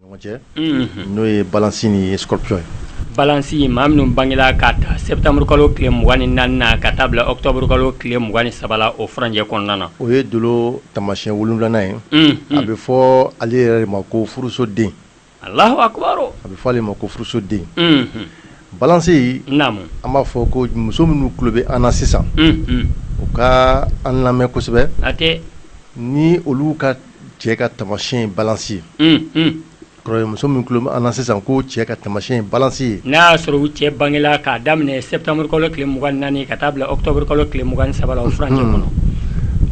ɲɔgɔn cɛ n'o ye balansi ni scorpion ye balansi ye maa minnu bangela k'a ta septembre kalo tile mugan ni naani na ka taa bila octobre kalo tile mugan ni saba la o furancɛ kɔnɔna na o ye dolo tamasiyɛn wolonwulanan ye a bɛ fɔ ale yɛrɛ de ma ko furusoden alahu akubaro a bɛ fɔ ale ma ko furusoden balansi naamu an b'a fɔ ko muso minnu tulo bɛ an na sisan u ka an lamɛn kosɛbɛ hatɛ ni olu ka cɛ ka tamasiyɛn ye balance ye, unhun, o kɔrɔ ye muso min tulo bɛ an na sisan ko cɛ ka tamasiyɛn ye balance ye, n'a y'a sɔrɔ u cɛ bangela k'a daminɛ septembre kalo tile 24 ka taa bila octobre kalo tile 23 la o furancɛ kɔnɔ, unhun,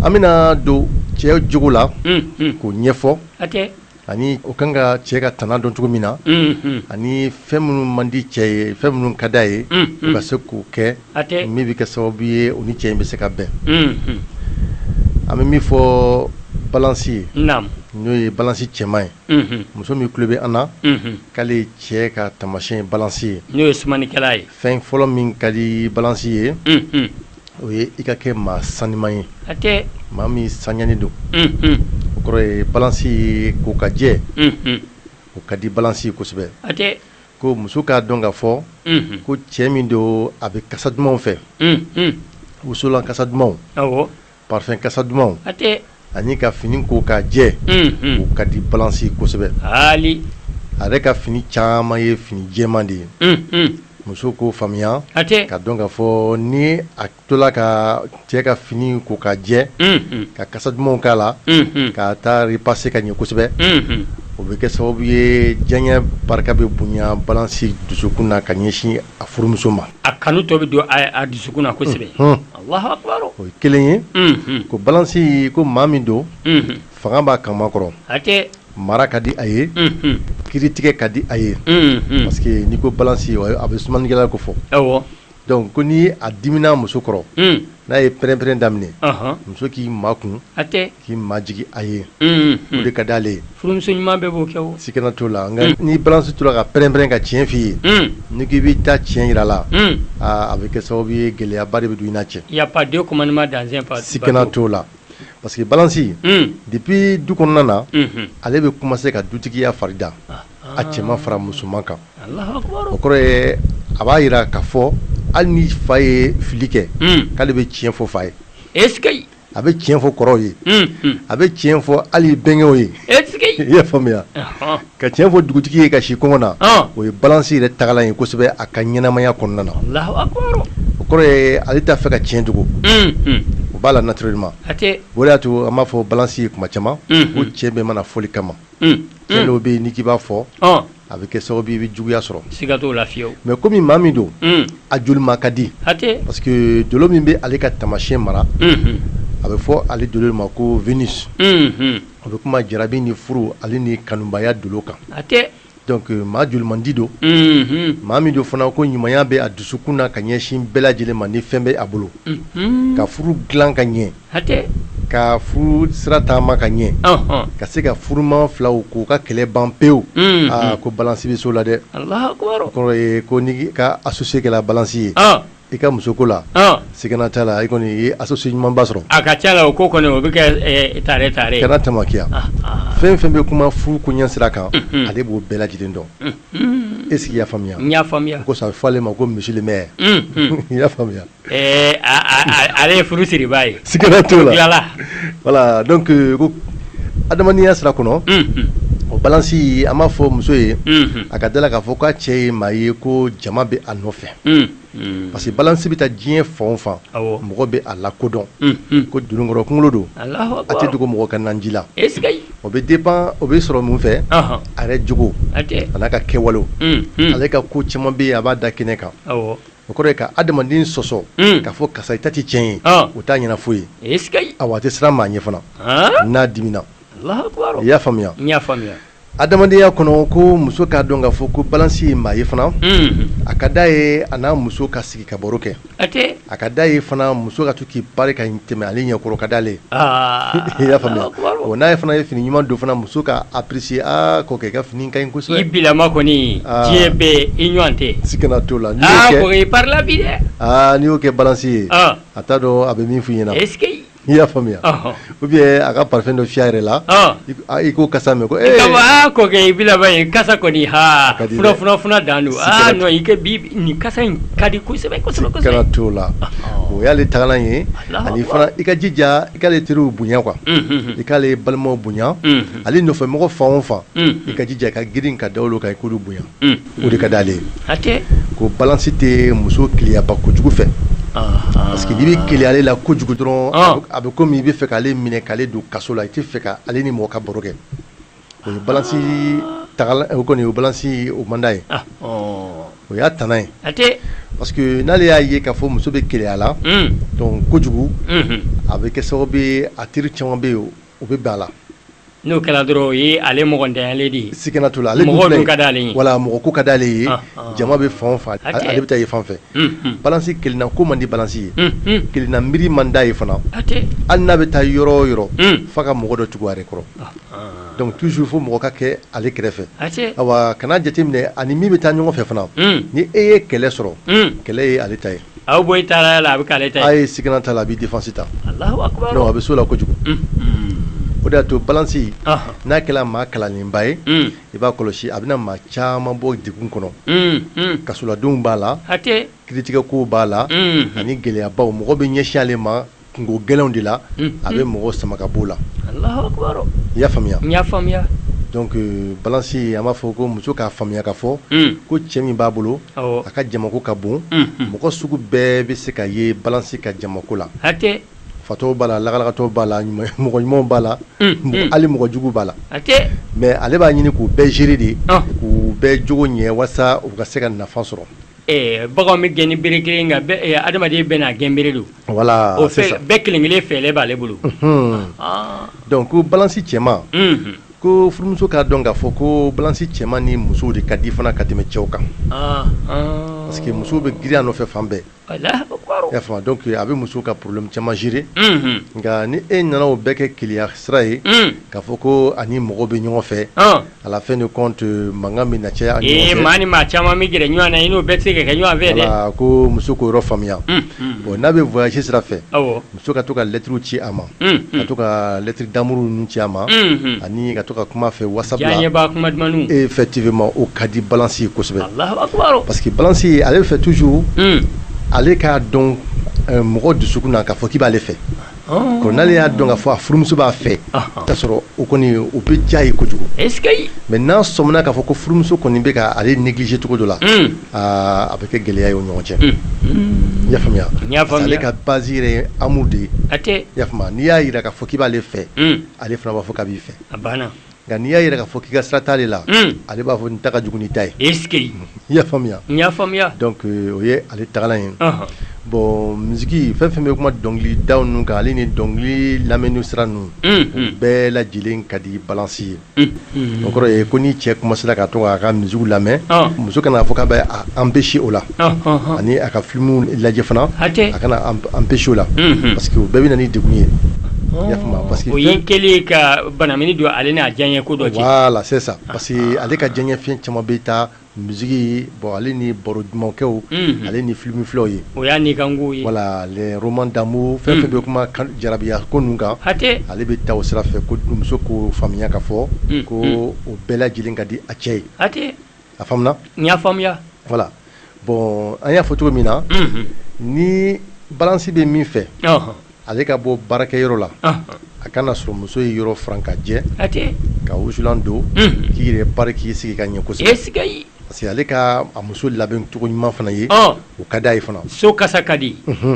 an bɛna don cɛ jogo la, unhun, k'o ɲɛfɔ, hatɛ, ani o kan ka cɛ ka tana dɔn cogo min na, unhun, ani fɛn minnu man di cɛ ye fɛn minnu ka d'a ye, unhun, o ka se k'o kɛ min bɛ kɛ sababu ye u ni cɛ in bɛ se ka bɛn an bɛ min fɔ balansi ye n'o ye balansi cɛman ye muso min tulo bɛ an na k'ale cɛ ka tamasiyɛn balansi ye n'o ye sumanikɛla ye fɛn fɔlɔ min ka di balansi ye o ye i ka kɛ maa sanuman ye maa min saniyanen don o kɔrɔ ye balansi ye ko ka jɛ o ka di balansi ye kosɛbɛ ko muso k'a dɔn k'a fɔ ko cɛ min don a bɛ kasa dumanw fɛ wusulan kasa dumanw parfum kasa dumanw ani ka fini ko ka jɛ o ka di balansi ye kosɛbɛ a yɛrɛ ka fini caman ye fini jɛman de ye muso k'o faamuya k'a dɔn k'a fɔ ni tola ka cɛ ka fini ko ka jɛ ka kasa dumanw k'a la ka taa repasser ka ɲɛ kosɛbɛ o bɛ kɛ sababu ye diyanye barika bɛ bonya balansi dusukun na ka ɲɛsin a furumuso ma a kanu tɔ bɛ don a dusukun na kosɛbɛ o ye kelen ye ko balansi ko maa min don fanga b'a kaman kɔrɔ mara ka di a ye kiritigɛ ka di a ye parce que n'i ko balansi a bɛ sumanikɛla kofɔ Donc ko ni a dimina muso kɔrɔ n'a ye pɛrɛnpɛrɛn daminɛ muso k'i makun k'i majigin a ye o de ka d'ale ye furumuso ɲuman bɛɛ b'o kɛ sikana t'o la ni balansi tora ka pɛrɛnpɛrɛn ka tiɲɛ f'i ye n'i k'i b'i ta tiɲɛ jira la aaa a bɛ kɛ sababu ye gɛlɛyaba de bɛ don i n'a cɛ y a pas deux commandants dans un bateau sikana t'o la parce que balansi depuis du kɔnɔna na ale bɛ commencer ka dutigiya farida a cɛman fara musoman kan o kɔrɔ ye a b'a jira k'a fɔ hali ni fa ye fili kɛ k'ale bɛ tiɲɛ fɔ fa ye e a bɛ tiɲɛ fɔ kɔrɔw ye a bɛ tiɲɛ fɔ hali bɛnkɛ ye i y'a faamuya ka tiɲɛ fɔ dugutigi ye ka si kɔngɔ na o ye balansi yɛrɛ tagalan ye kosɛbɛ a ka ɲɛnamaya kɔnɔna na o kɔrɔ ye ale t'a fɛ ka tiɲɛ dogo o b'a la naturellement o de y'a to an b'a fɔ balansi ye kuma caman ko tiɲɛ bɛɛ ma na fɔli kama dɔw bɛ yen n'i k'i b'a fɔ a bɛ kɛ sababu ye i bɛ juguya sɔrɔ siga t'o la fiyewu mais kɔmi maa min don a jolima ka di parce que dolo min bɛ ale ka tamasiɲɛ mara a bɛ fɔ ale dolo ma ko Vénus o bɛ kuma jarabi ni furu ale ni kanubaya dolo kan donc maa jolimandi don maa min don fana ko ɲumanya bɛ a dusukun na ka ɲɛsin bɛɛ lajɛlen ma ni fɛn bɛ a bolo ka furu dilan ka ɲɛ hatɛ ka furu sira taama ka ɲɛ ɔnhɔn ka se ka furumaa filaw k'u ka kɛlɛ ban pewu unhun aa ko balance be so la dɛ Alahakubaru o kɔrɔ ye ko n'i ka associé kɛla balance ye ɔɔn i ka musoko la ɔɔn sigana t'a la i kɔni i ye associé ɲumanba sɔrɔ a ka ca la o ko kɔni o be kɛ ee tare tare ye kana tamakiya ah ah fɛn fɛn be kuma furu koɲɛ sira kan unhun ale b'o bɛɛ lajɛlen dɔn unhuun est ce que i y'a faamuya n y'a faamuya o kosɔn a be fɔ ale ma ko monsieur le maire unhun i y'a faamuya Ale ye furu siriba ye sigana t'o la voilà donc ko adamadenya sira kɔnɔ o balance an b'a fɔ muso ye a ka d'a la k'a fɔ k'a cɛ ye maa ye ko jama bɛ a nɔfɛ parce que balance bɛ taa diɲɛ fan o fan mɔgɔ bɛ a lakodɔn ko dununkɔrɔ kunkolo don a tɛ dogo mɔgɔ ka naji la o bɛ dépend o bɛ sɔrɔ mun fɛ a yɛrɛ jogo a n'a ka kɛwalew ale ka ko caman bɛ a b'a da kɛnɛ kan o kɔrɔ ye ka adamaden sɔsɔ k'a fɔ karisa i ta tɛ tiɲɛ ye o t'a ɲɛna foyi ye awa a tɛ siran maa ɲɛ fana n'a dimina i y'a faamuya adamadenya kɔnɔ ko muso k'a dɔn k'a fɔ ko balance ye maa ye fana a ka d'a ye a n'a muso ka sigi ka baro kɛ a ka d'a ye fana muso ka K'i pari ka tɛmɛ ale ɲɛkɔrɔ ka d'ale i y'a faamuya o n'a ye fana ye fini ɲuman don fana muso k'a apprécier kɔkɛ i ka fini ka ɲi kosɛbɛ i bilama kɔni diɲɛ bɛɛ i ɲɔgɔn tɛ sikana t'o la kɔkɛ i parila bi dɛ n'i y'o kɛ balance ye a t'a dɔn a bɛ min f'i ɲɛna i y'a faamuya ou bien a ka parfum dɔ fiyɛ a yɛrɛ la i k'o kasa mɛn ko e kɔkɛ i in kasa kɔni ha ka dan don nin kasa in ka di kosɛbɛ sikana t'o la o y'ale tagalan ye ani fana i ka jija i k'ale teriw bonya quoi i k'ale balimaw bonya ale nɔfɛmɔgɔ fan o fan i ka jija ka girin ka da olu kan i k'olu bonya o de ka d'ale ye ko balance tɛ muso keleyaba kojugu fɛ parce que n'i bɛ keleya ale la kojugu dɔrɔn a bɛ komi i bɛ fɛ k'ale minɛ k'ale don kaso la i tɛ fɛ k'ale ni mɔgɔ ka baro kɛ o ye balance kɔni o balance o man d'a ye o y'a tana ye parce que n'ale y'a ye k'a fɔ muso bɛ keleya la donc kojugu a bɛ kɛ sababu ye a teri caman bɛ ye o bɛ bɛn a la, n'o kɛra dɔrɔn o ye ale mɔgɔntanyalen de ye, sigana t'o la, ale dun filɛ, mɔgɔ ko ka d'ale ye, voilà mɔgɔ ko ka d'ale ye, ɔnhɔn, jama bɛ fan o fan, hatɛ, ale bɛ taa yen fan fɛ, unhun, balance kelenna ko man di balance ye, unhun, kelenna miiri man d'a ye fana, hatɛ, hali n'a bɛ taa yɔrɔ o yɔrɔ, un, f'a ka mɔgɔ dɔ tugu a yɛrɛ kɔrɔ, ɔnhɔn, donc toujours fo mɔgɔ ka kɛ ale kɛrɛfɛ, hatɛ, awa kana jateminɛ a ni min bɛ taa ɲɔgɔn fɛ fana, un, ni e ye kɛlɛ sɔrɔ, un, kɛlɛ ye ale ta ye. A bɛ bɔ taara la a bɛ k'ale ta ye sigana t'a la a b'i défense ta a bɛ s'o la kojugu o de y'a to balance n'a kɛra maa kalanlenba ye i b'a kɔlɔsi a bɛna maa caman bɔ degun kɔnɔ kasoladenw b'a la kiritigɛkow b'a la ani gɛlɛyabaw mɔgɔ bɛ ɲɛsin ale ma kungo gɛlɛnw de la a bɛ mɔgɔ sama ka b'o la i y'a faamuya n y'a faamuya donc balance an b'a fɔ ko muso k'a faamuya k'a fɔ ko cɛ min b'a bolo a ka jamako ka bon mɔgɔ sugu bɛɛ bɛ se ka ye balance ka jamako la fatɔw b'a la lagalagatɔw b'a la mɔgɔ ɲumanw b'a la hali mɔgɔ jugu b'a la mais ale b'a ɲini k'u bɛɛ gérer de k'u bɛɛ jogo ɲɛ walasa u ka se ka nafa sɔrɔ Ɛɛ bagan bɛ gɛn ni bere kelen nka bɛ ɛɛ adamaden bɛɛ n'a gɛn bere don voilà o c'est ça u bɛɛ kelen kelen fɛɛlɛ b'ale bolo unhun ɔɔ donc ko balance cɛman unhun ko furumuso k'a dɔn k'a fɔ koo balance cɛman ni musow de ka di fana ka tɛmɛ cɛw kan anhan parce que musow bɛ girin a nɔfɛ fan bɛɛ Alahu akibaru i y'a faamu donc a bɛ musow ka problème caman gérer unhun nka ni e nana o bɛɛ kɛ keleya sira ye un k'a fɔ koo a ni mɔgɔw bɛ ɲɔgɔn fɛ ɔn à la fin de compte mankan bɛ na caya aw ni ɲɔgɔn cɛ, ee maa ni maa caman bɛ gɛrɛ ɲɔgɔn na i n'o bɛɛ tɛ se ka kɛ ɲɔgɔn fɛ dɛ, voilà ko muso k'o yɔrɔ faamuya, unhun, bon n'a bɛ voyage sira fɛ, awɔ, muso ka to ka lettre ci a ma, unhun, ka to ka lettre d'amour ninnu ci a ma, unhun, ani ka to ka kuma a fɛ whatsapp la, diyanyebaa kuma dumanniw, effectivement o ka di balance ye kosɛbɛ, Alahu akibaru, parce que balance ale b'a fɛ toujours ale k'a dɔn mɔgɔ dusukun na k'a fɔ k'i b'ale fɛ ko n'ale y'a dɔn k'a fɔ a furumuso b'a fɛ k'a sɔrɔ o kɔni o bɛ diya ye kojugu mais n'a sɔmina k'a fɔ ko furumuso kɔni bɛ ka ale négliger cogo dɔ la a bɛ kɛ gɛlɛya ye o ɲɔgɔn cɛ i y'a faamuya ale ka base yɛrɛ ye amour de ye i y'a faamuya n'i y'a jira k'a fɔ k'i b'ale fɛ ale fana b'a fɔ k'a b'i fɛ Nka n'i y'a jira k'a fɔ k'i ka sira t'ale la, un, ale b'a fɔ n ta ka jugu n'i ta ye, est ce que i y'a faamuya, n y'a faamuya, donc o ye ale tagalan ye, ɔnhɔn, bon musique fɛn o fɛn bɛ kuma dɔnkilidaw ninnu kan ale ni dɔnkili lamɛnni sira ninnu, unhun, bɛɛ lajɛlen ka di balance ye, unhun, o kɔrɔ ye ko ni cɛ commencer la ka to k'a ka musique lamɛn, ɔn, muso kana fɔ k'a bɛ a empecher o la, ɔnhɔn, ani a ka film lajɛ fana, hatɛ, a kana empecher o la, unhun, parce que o bɛɛ bɛ na ni degun ye, ɔɔ, i y'a faamuya parce que o y'i kɛlen ye ka Bana don ale n'a diyanye ko dɔ cɛ c'est ça parce que ale ka diyanye fɛn caman bɛ taa musique bon ale ni baro duman kɛw ale ni filimu filɛw ye o y'a ni voilà les romans d'amour fɛn fɛn bɛ kuma jarabiya ko ninnu kan hatɛ ale bɛ taa o sira fɛ ko dumuso k'o faamuya ka fɔ ko o bɛɛ lajɛlen ka di a cɛ ye hatɛ a faamuna n y'a faamuya voilà bon an y'a fɔ cogo min na ni balansi bɛ min fɛ ale ka bɔ baarakɛyɔrɔ la a ka n'a sɔrɔ muso ye yɔrɔ furan ka jɛ ka wusulan don k'i yɛrɛ pari k'i sigi ka ɲɛ kosɛbɛ parce que ale ka a muso labɛn cogo ɲuman fana ye o ka d'a ye fana so kasa ka di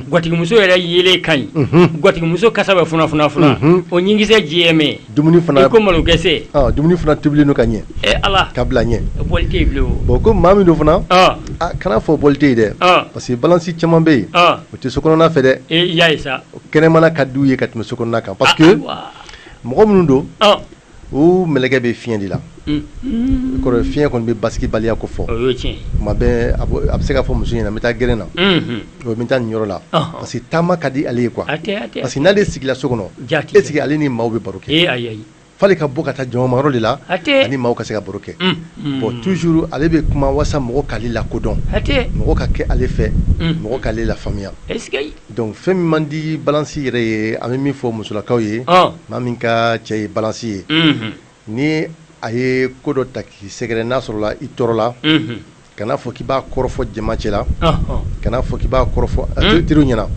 gatigimuso yɛrɛ yelen ka ɲi gatigimuso kasa bɛ funafuna o ɲinkisɛ jɛlen bɛ dumuni fana i ko malokisɛ ɔ dumuni fana tobilen don ka ɲɛ e ala ka bila ɲɛ bɔli tɛ yen bilen bon ko maa min don fana a kana fɔ bɔli tɛ yen dɛ parce que balansi caman bɛ yen o tɛ so kɔnɔna fɛ dɛ e y'a ye sa kɛnɛmana ka d'u ye ka tɛmɛ so kɔnɔna kan parce que mɔgɔ minnu don u mɛlɛkɛ bɛ fiɲɛ de la kɔrɔ fiɲɛ kɔni bɛ basigibaliya kofɔ tuma bɛɛ a bɛ se k'a fɔ muso ɲɛna n bɛ taa gɛrɛn na o bɛ taa nin yɔrɔ la parce que taama ka di ale ye quoi parce que n'ale sigila so kɔnɔ est ce que ale ni maaw bɛ baro kɛ f'ale ka bɔ ka taa jamayɔrɔ de la a ni maaw ka se ka baro kɛ bon toujours ale bɛ kuma walasa mɔgɔ k'ale lakodɔn mɔgɔ ka kɛ ale fɛ mɔgɔ k'ale lafaamuya donc fɛn min man di balansi yɛrɛ ye an bɛ min fɔ musolakaw ye maa min ka cɛ ye balansi ye Ni a ye ko dɔ ta k'i sɛgɛrɛ n'a sɔrɔla i tɔɔrɔla kana fɔ k'i b'a kɔrɔfɔ jama cɛla kana fɔ k'i b'a kɔrɔfɔ teriw ɲɛna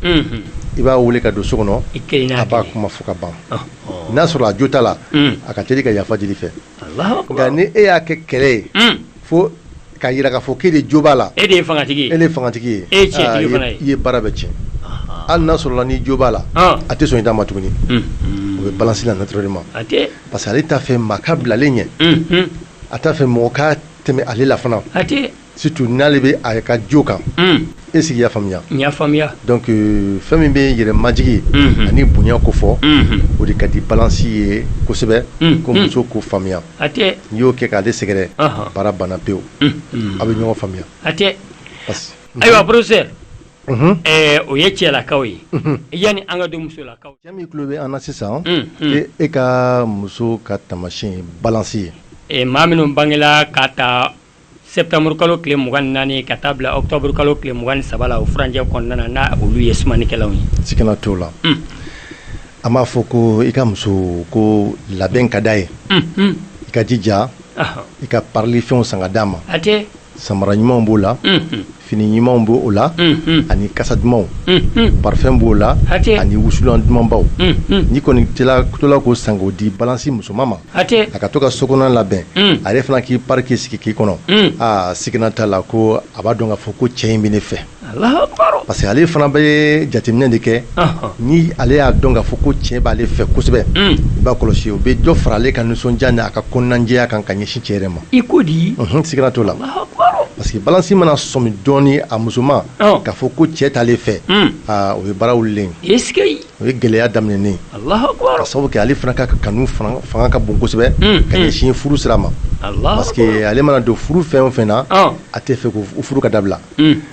i b'a weele ka don so kɔnɔ a b'a kuma fɔ ka ban n'a sɔrɔ a jo t'a la a ka teli ka yafa deli i fɛ nka ni e y'a kɛ kɛlɛ ye fo ka jira ka fɔ k'e de jo b'a la e de ye fangatigi ye e i ye baara bɛɛ tiɲɛ hali n'a sɔrɔla n'i jo b'a la a tɛ sɔn i ta ma tuguni o bɛ balansi la naturellement parce que ale t'a fɛ maa ka bila ale ɲɛ, unhun, a t'a fɛ mɔgɔ ka tɛmɛ ale la fana, hatɛ, surtout n'ale bɛ a ka jo kan, un, est ce que i y'a faamuya? n y'a faamuya, donc euh, fɛn min bɛ yɛrɛmajigin, unhun, ani bonya kofɔ, unhun, o de ka di balance ye kosɛbɛ, unhun, ko muso k'o faamuya, hatɛ, n'i y'o kɛ k'ale sɛgɛrɛ, ɔnhɔn, baara banna pewu, unhun, a bɛ ɲɔgɔn faamuya, hatɛ, parce que ayiwa professeur o ye cɛlakaw ye yani an ka don musolakaw cɛ min tulo bɛ an na sisan e ka muso ka taamasiyɛn ye balansi ye maa minnu bangela k'a ta septembre kalo tile mugan ni naani ka taa bila octobre kalo tile mugan ni saba la o furancɛ kɔnɔna na n'a olu ye sumanikɛlaw ye sikana t'o la an b'a fɔ ko i ka muso ko labɛn ka d'a ye i ka jija i ka parili fɛnw san ka d'a ma samara ɲumanw b'o la fini ɲumanw b'o la ani kasa dumanw parfum b'o la ani wusulan dumanbaw n'i kɔni tola k'o san k'o di balansi musoman ma a ka to ka so kɔnɔna labɛn ale fana k'i pari k'i sigi k'i kɔnɔ aa sigana t'a la ko a b'a dɔn k'a fɔ ko cɛ in bɛ ne fɛ parce que ale fana bɛ jateminɛ de kɛ ni ale y'a dɔn k'a fɔ ko cɛ b'ale fɛ kosɛbɛ i b'a kɔlɔsi o bɛ dɔ fara ale ka nisɔndiya ni a ka kɔnɔnajɛya kan ka ɲɛsin cɛ yɛrɛ ma i ko di sigana t'o la parce que balansi mana sɔmi dɔɔnin a musoman k'a fɔ ko cɛ t'ale fɛ o ye baara wulilen o ye gɛlɛya daminɛnen k'a sabu kɛ ale fana ka kanu fanga ka bon kosɛbɛ ka ɲɛsin furu sira ma parce que ale mana don furu fɛn o fɛn na a t'a fɛ ko furu ka dabila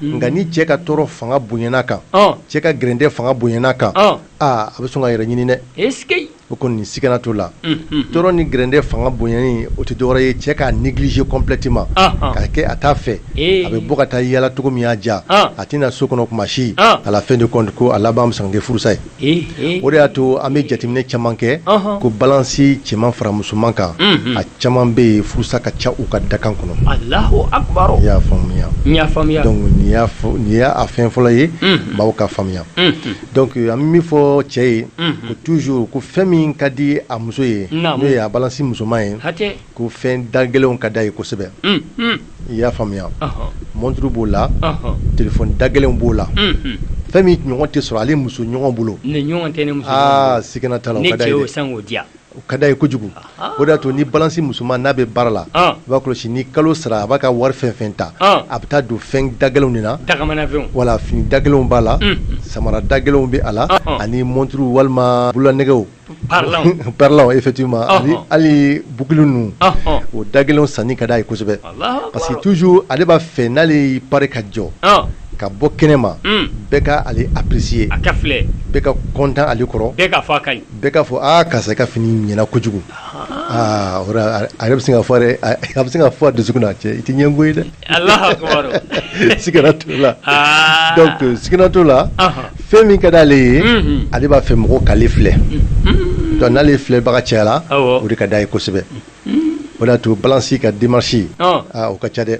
nka ni cɛ ka tɔɔrɔ fanga bonyana kan cɛ ka gɛrɛntɛ fanga bonyana kan aa a bɛ sɔn k'a yɛrɛ ɲini dɛ o kɔni sigana t'o la tɔɔrɔ ni gɛrɛntɛ fanga bonyani o tɛ dɔwɛrɛ ye cɛ k'a négliger complètement k'a kɛ a t'a fɛ a bɛ bɔ ka taa yaala cogo min y'a diya a tɛ na so kɔnɔ kuma si à la fin de compte ko a laban bɛ sɔn ka kɛ furusa ye o de y'a to an bɛ jateminɛ caman kɛ ko balansi cɛman fara musoman kan a caman bɛ yen furusa ka ca u ka dakan kɔnɔ i y'a faamuya donc nin y'a fɛn fɔlɔ ye maaw k'a faamuya donc an bɛ min fɔ cɛ ye ko toujours ko fɛn min ka di a muso ye n'o ye a balansi musoman ye ko fɛn da gɛlɛnw ka d'a ye kosɛbɛ i y'a faamuya montre b'o la téléphone da gɛlɛnw b'o la fɛn min ɲɔgɔn tɛ sɔrɔ ale muso ɲɔgɔn bolo sigana t'a la o ka d'a ye kojugu o de y'a to ni balansi musoman n'a bɛ baara la i b'a kɔlɔsi ni kalo sara a b'a ka wari fɛn fɛn ta a bɛ taa don fɛn da gɛlɛnw de na wala fini da gɛlɛnw b'a la samara da gɛlɛnw bɛ a la ani montre walima bololanɛgɛw parlant effectivement ah, ah. hali boucle ninnu ah, o da gɛlɛnw sanni ka d'a ye kosɛbɛ parce que toujours ale b'a fɛ n'ale y'i pari ka jɔ ka bɔ kɛnɛ ma hmm. bɛɛ ka ale apprécier a ka filɛ bɛɛ ka content ale kɔrɔ bɛɛ k'a fɔ a ka ɲi bɛɛ k'a fɔ aa karisa ka fini ɲɛna kojugu aa o a yɛrɛ bɛ se k'a fɔ dɛ a bɛ se k'a fɔ a dusukun na cɛ i tɛ ɲɛngo ye dɛ Sigana t'o la fɛn min ka di ale ye ale b'a fɛ mɔgɔw k'ale filɛ donc n'ale filɛbaga cayara o de ka d'a ye kosɛbɛ o de y'a to balansi ka démarche o ka ca dɛ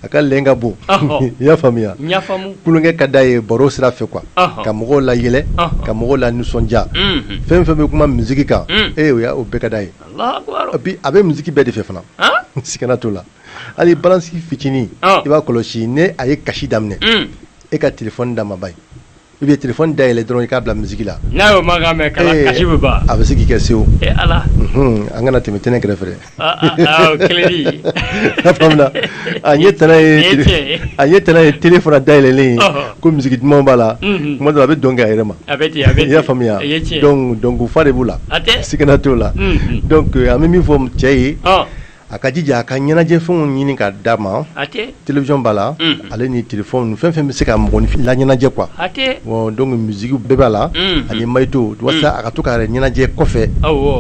a ka le ka bon i y'a faamuya tulonkɛ ka d'a ye baro sira fɛ quoi ka mɔgɔw layɛlɛ ka mɔgɔw lanisɔndiya fɛn fɛn bɛ kuma musiki kan e o y' o bɛɛ ka d'a ye A bɛ musique bɛɛ de fɛ fana sigana t'o la hali balance fitinin i b'a kɔlɔsi ni a ye kasi daminɛ e ka téléphone d'a ma ba ye i bɛ téléphone dayɛlɛ dɔrɔn i k'a bila musique la n'a a bɛ se k'i kɛ sewu a kana tɛmɛ télé kɛrɛfɛ A ye t n'a ye télé fana dayɛlɛlen ye ko musique duman b'a la kuma dɔ la a bɛ dɔn kɛ a yɛrɛ ma i y'a faamuya donc fa de b'u la sigana t'o la an bɛ min fɔ cɛ ye a ka jija a ka ɲɛnajɛfɛnw ɲini ka d'a ma télévision b'a la ale ni téléphone fɛn fɛn bɛ se ka mɔgɔninfin la ɲɛnajɛ quoi donc musique bɛɛ b'a la ani magnéto walasa a ka to ka yɛrɛ ɲɛnajɛ kɔfɛ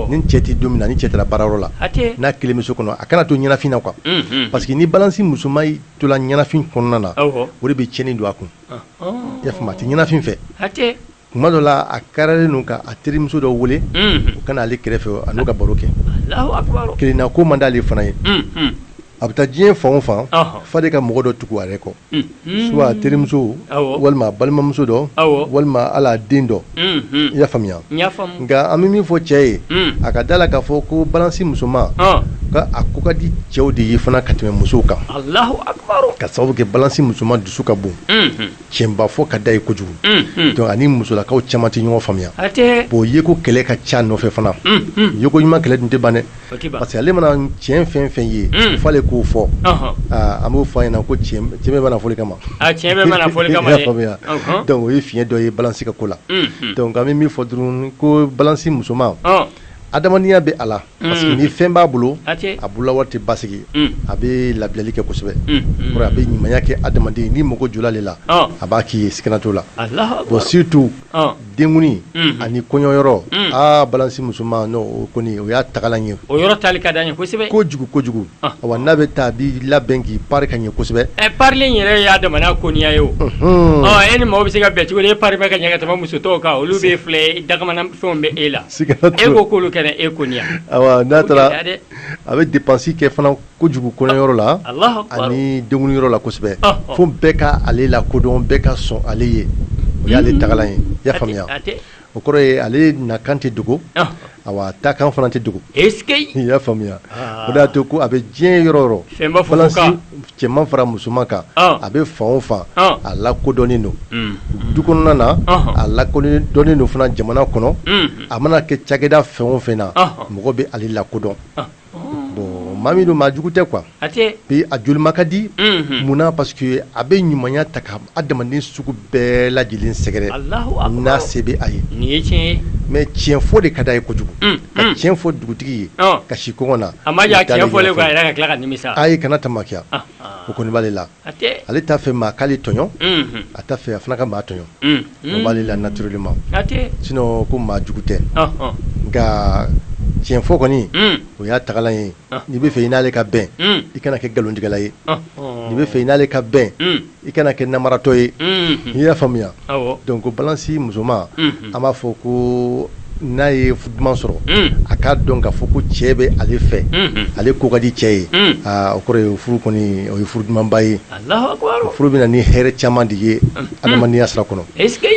ni cɛ tɛ don min na ni cɛ taara baarayɔrɔ la n'a kelen bɛ so kɔnɔ a kana to ɲɛnafin na quoi unhun parce que ni balance musoman y'i to la ɲɛnafin kɔnɔna na awɔ o de bɛ tiɲɛni don a kun ɔnhɔn i y'a faamu a tɛ ɲɛnafin fɛ hatɛ tuma dɔ la a kariyalen don ka a terimuso dɔ wele unhun o ka na ale kɛrɛfɛ a n'o ka baro kɛ Alahu akibaru kelenna ko man d'ale fana ye unhun a bɛ taa diɲɛ fan o fan ɔnhɔn f'ale ka mɔgɔ dɔ tugu a yɛrɛ kɔ Soit a terimuso walima a balimamuso dɔ walima a la den dɔ i y'a faamuya nka an bɛ min fɔ cɛ ye a ka da la k'a fɔ ko balance musoman ka a ko ka di cɛw de ye fana ka tɛmɛ musow kan ka sababu kɛ balance musoman dusu ka bon tiɲɛba fɔ ka d'a ye kojugu ani musolakaw caman tɛ ɲɔgɔn faamuya bon yeko kɛlɛ ka ca nɔfɛ fana yeko ɲuman kɛlɛ dun tɛ ban dɛ parce que ale mana tiɲɛ fɛn fɛn ye fo ale k'o fɔ an b'o fɔ a ɲɛna ko tiɲɛ bɛɛ ma na fɔli kama o ye fiɲɛ dɔ ye balance ka ko la an bɛ min fɔ dɔrɔn ko balance musoman adamadenya bɛ a la parce que ni fɛn b'a bolo a bolola wari tɛ basigi a bɛ labilali kɛ kosɛbɛ a bɛ ɲumanya kɛ adamaden ni mago jɔla ale la a b'a k'i ye sigana t'o la bon surtout denkundi ani kɔɲɔyɔrɔ aa balance musoman kɔni o y'a tagalan ye o yɔrɔ taali ka d'a ye kosɛbɛ ko kojugu kojugu wa n'a bɛ taa a b'i labɛn k'i pari ka ɲɛ kosɛbɛ ɛ parilen yɛrɛ y'a damana koniya ye o e ni maaw bɛ se ka bɛn cogo di e pari ka ɲɛ ka tɛmɛ muso tɔw kan olu bɛ filɛ dakabana fɛnw bɛ e la e ko k'olu kana e koniya a bɛ dépense kɛ fana ko kojugu kɔɲɔyɔrɔ la ani denkundiyɔrɔ la kosɛbɛ fo bɛɛ ka ale lakodɔn bɛɛ ka sɔn ale ye o y'ale tagalan ye i y'a faamuya o kɔrɔ ye ale nakan tɛ dogo a taakan fana tɛ dogo e i y'a faamuya o y'a to ko a bɛ diɲɛ yɔrɔ yɔrɔ cɛman fara musoman kan a bɛ fan o fan a lakodɔnnen don du kɔnɔna na a ladɔnnen don fana jamana kɔnɔ a mana kɛ cakɛda fɛn o fɛn na mɔgɔ bɛ ale lakodɔn Bon maa min don maa jugu tɛ quoi a tɛ, et a jolima ka di, unhun, munna parce que a bɛ ɲumanya ta ka adamaden sugu bɛɛ lajɛlen sɛgɛrɛ, Alahu akibaru, n'a se bɛ a ye, nin ye tiɲɛ ye, mais tiɲɛ fɔ de ka d'a ye kojugu, unhun, ka tiɲɛ fɔ dugutigi ye, ɔn, ka si kɔngɔ na, a man jan a tiɲɛ fɔlen kɔ a yɛrɛ ka tila ka nimisa, ayi kana tamakiya, anhan, o kɔni b'ale la Ale t'a fɛ maa k'ale tɔɲɔ a t'a fɛ a fana ka maa tɔɲɔ o b'ale la naturellement sinon ko maa jugu tɛ nka tiɲɛ fɔ kɔni o y'a tagalan ye n'i bɛ fɛ i n'ale ka bɛn i kana kɛ nkalontigɛla ye n'i bɛ fɛ i n'ale ka bɛn i kana kɛ namaratɔ ye i y'a faamuya Donc balansi musoman an b'a fɔ ko n'a ye furu duman sɔrɔ a k'a dɔn k'a fɔ ko cɛ bɛ ale fɛ ale ko ka di cɛ ye o kɔrɔ ye furu kɔni o ye furu dumanba ye furu bɛ na ni hɛrɛ caman de ye adamadenya sira kɔnɔ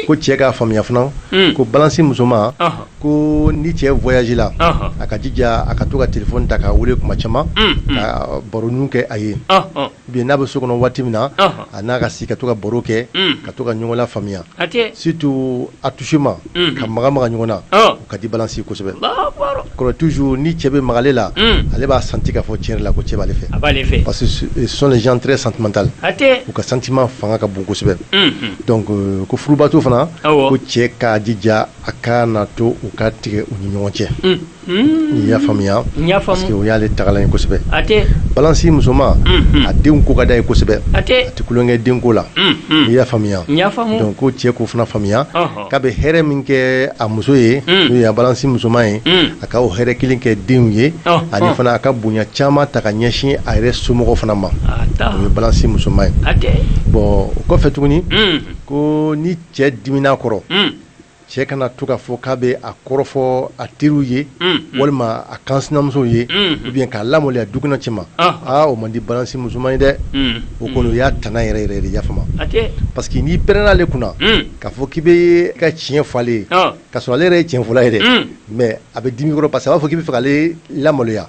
ko cɛ k'a faamuya fana ko balansi musoman ko ni cɛ voyage la a ka jija a ka to ka téléphone ta k'a weele kuma caman ka baronin kɛ a ye Bien n'a bɛ so kɔnɔ waati min na a n'a ka si ka to ka baro kɛ ka to ka ɲɔgɔn lafaamuya surtout attouchement ka maga maga ɲɔgɔn na o ka di balansi kosɛbɛ kɔrɔ toujours ni cɛ bɛ maga ale la ale b'a senti k'a fɔ tiɲɛ la ko cɛ b'ale fɛ parce que ce sont les gens très sentimental u ka sentiment fanga ka bon kosɛbɛ donc ko furubato fana ko cɛ k'a jija a kana to o ka tigɛ u ni ɲɔgɔn cɛ I y'a faamuya parce que o y'ale tagalan ye kosɛbɛ balansi musoman a denw ko ka d'a ye kosɛbɛ a tɛ tulon kɛ denko la i y'a faamuya donc ko cɛ k'o fana faamuya k'a bɛ hɛrɛ min kɛ a muso ye n'o ye balansi musoman ye a ka o hɛrɛ kelen kɛ denw ye ani fana a ka bonya caman ta ka ɲɛsin a yɛrɛ somɔgɔw fana ma o ye balansi musoman ye bon o kɔfɛ tuguni ko ni cɛ dimina kɔrɔ cɛ kana to k'a fɔ k'a bɛ a kɔrɔfɔ a teriw ye walima a kansinamusow ye ou bien k'a lamaloya du kɔnɔ cɛma aa o man di balansi musoman ye dɛ o kɔni o y'a tana yɛrɛ yɛrɛ de ye i y'a faamu parce que n'i pɛrɛnna ale kunna k'a fɔ k'i bɛ ka tiɲɛ fɔ ale ye ka sɔrɔ ale yɛrɛ ye tiɲɛ fɔla ye dɛ mais a bɛ dimi kɔrɔ parce que a b'a fɔ k'i bɛ fɛ k'ale lamaloya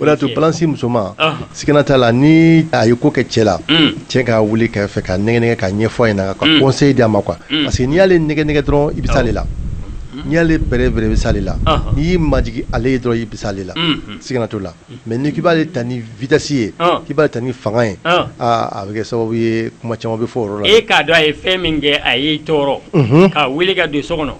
O de y'a to balansi musoman sigana t'a la ni a ye ko kɛ cɛ la cɛ k'a wuli kɛrɛfɛ k'a nɛgɛ nɛgɛ k'a ɲɛfɔ a ɲɛ na ka conseil di a ma quoi parce que n'i y'ale nɛgɛ nɛgɛ dɔrɔn i bɛ s'ale la n'i y'ale bɛrɛ bɛrɛ i bɛ s'ale la n'i y'i majigin ale ye dɔrɔn i bɛ s'ale la sigana t'o la mais ni k'i b'ale ta ni vitesse ye k'i b'ale ta ni fanga ye aaa a bɛ kɛ sababu ye kuma caman bɛ fɔ o yɔrɔ la e k'a dɔn a ye fɛn min kɛ a y'i tɔɔrɔ k'a weele ka don so kɔnɔ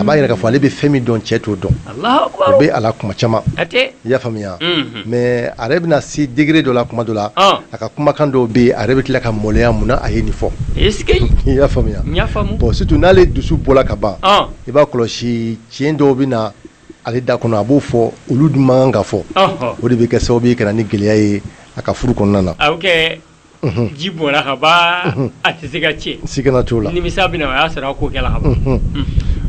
a b'a yira k'a fɔ ale bɛ fɛn min dɔn cɛ t'o dɔn o bɛ a la kuma caman i y'a faamuya mais a yɛrɛ bɛna se degré dɔ la kuma dɔ la a ka kumakan dɔw bɛ yen a yɛrɛ bɛ tila ka maloya mun na a ye nin fɔ i y'a faamuya bon surtout n'ale dusu bɔla ka ban i b'a kɔlɔsi tiɲɛ dɔw bɛ na ale da kɔnɔ a b'o fɔ olu dun man kan ka fɔ o de bɛ kɛ sababu ye ka na ni gɛlɛya ye a ka furu kɔnɔna na ji bɔnna ka ban a tɛ se ka cɛ sigana t'o la nimisa bɛna o y'a sɔrɔ a ko kɛla ka ban Unhun.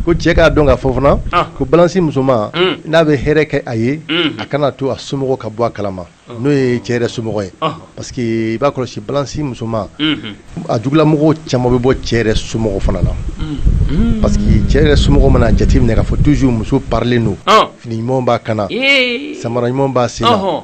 ko cɛ k'a dɔn k'a fɔ fana Ɔn. ko balansi musoman Un. n'a bɛ hɛrɛ kɛ a ye Un. a kana to a somɔgɔw ka bɔ a kalama n'o ye cɛ yɛrɛ somɔgɔ ye Ɔn. parce que i b'a kɔlɔsi balansi musoman Unhun. a jugulamɔgɔw caman bɛ bɔ cɛ yɛrɛ somɔgɔw fana na Unhun. parce que cɛ yɛrɛ somɔgɔw mana jateminɛ k'a fɔ toujours muso parilen don Ɔn. fini ɲumanw b'a kan na Ee. samara ɲumanw b'a sen na Ɔhɔn.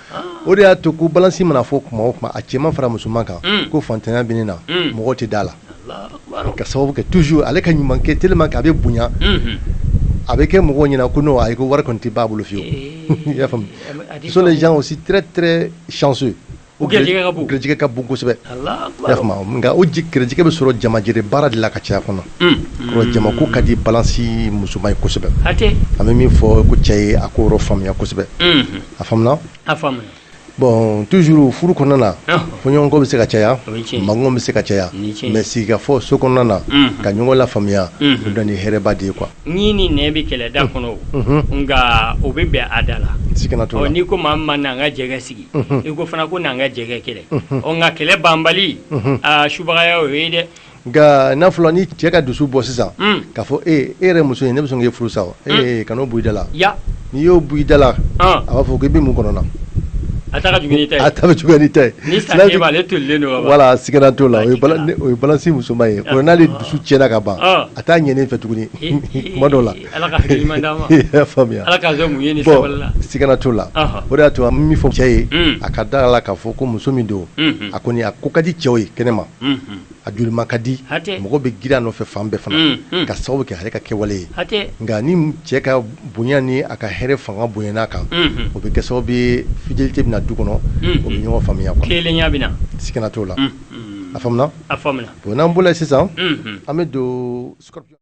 o de y'a to ko balansi mana fɔ kuma o kuma a cɛman fara musoman kan ko faantanya bɛ ne na mɔgɔ tɛ da a la ka sababu kɛ toujours ale ka ɲuman kɛ tellement que a bɛ bonya a bɛ kɛ mɔgɔ ɲɛna ko non ayi ko wari kɔni tɛ ban a bolo fiyewu i y'a faamuya ce sont les gens aussi très très chanceux u garijɛgɛ ka bon kosɛbɛ nka o garijɛgɛ bɛ sɔrɔ jamajɛrɛ baara de la ka caya kɔnɔ jamako ka di balansi musoman ye kosɛbɛ an bɛ min fɔ ko cɛ ye a k'o yɔrɔ faamuya kosɛbɛ a faamuna a faamuna bon toujours furu kɔnɔna na fɔɲɔgɔnkɔ bɛ se ka caya mankan bɛ se ka caya mais sigikafɔ so kɔnɔna na ka ɲɔgɔn lafaamuya o bɛ na ni hɛrɛba de ye quoi ɲin ni nɛn bɛ kɛlɛ da kɔnɔ nka o bɛ bɛn a da la sigana t'o la n'i ko maa min ma n'an ka jɛ ka sigi i ko fana ko n'an ka jɛ ka kɛlɛ nka kɛlɛ banbali subagaya o ye dɛ Nka n'a fɔra ni cɛ ka dusu bɔ sisan k'a fɔ e e yɛrɛ muso in ne bɛ sɔn k'e furu sa kan'o bɔ i da la n'i y'o bɔ i da la a b'a fɔ k'i bɛ mun kɔnɔ a ta ka jugu ni i ta ye voilà sigana t'o la o ye balansi musoman ye ko n'ale dusu tiɲɛna ka ban a t'a ɲɛ fɛ tuguni kuma dɔ la siga t'o la o de y'a to an bɛ min fɔ cɛ ye a ka da a la k'a fɔ ko muso min don a kɔni a ko ka di cɛw ye kɛnɛ ma a jolima ka di hatɛ mɔgɔ bɛ girin a nɔfɛ fan bɛɛ fana un un ka sababu kɛ ale ka kɛwale ye hatɛ nka ni cɛ ka bonya ni a ka hɛrɛ fanga bonyana a kan unhun o bɛ kɛ sababu ye fidélité bɛna du kɔnɔ o bɛ ɲɔgɔn faamuya quoi kelenya bɛ na sigana t'o la unhun a faamuna a faamuna bon n'an bɔra o la sisan unhun an bɛ don scorpion